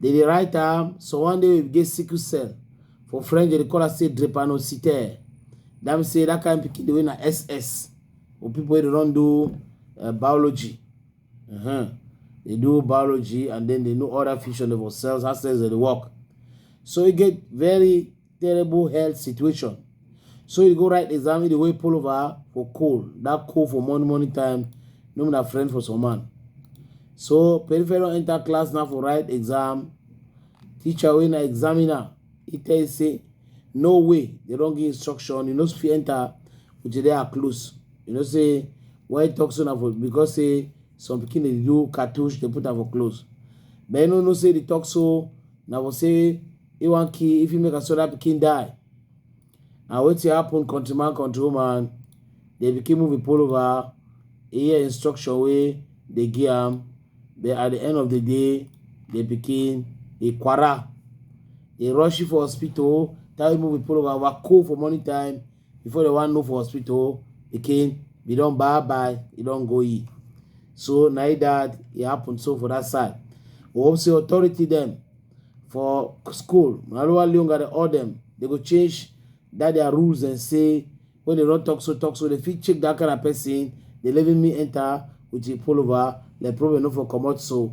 They dey write am so one day we get sickle cell. For French, they call am say drepanocytaire. That means say that kind pikin the way na SS. Or people wey dey run do uh, biology. Uh-huh. They do biology and then they know other fusion of cells, how cells they work. So you get very terrible health situation. So you go write exam, the way pull over for coal. That coal for money, money time, no mean a friend for some man. So peripheral enter class now for write exam. Teacher when I examiner, he tell you say, no way, they don't give instruction. You know, if you enter, which they are close. You know, say, why talk so now for, because say, some pikin dey do cartouche dey put am for clothes but you no know say the talk so na for say He wan kill, if he make Asoda pikin die. Na wetin happen country man, country woman. The pikin move him pull over. He hear instruction wey dey give am. But at the end of the day, the pikin he kwara. He rush him for hospital. Tell him move him pull over. Wa cool for morning time. Before they wan know for hospital, pikin be don bye bye. He don go ye. So na it that it happened so for that side. We hope say authority them for school na ruwa leonga dey all dem dey go change that their rules and say when they don talk so talk so they fit check that kind of person they leaving me enter with the pullover the problem no for comot so.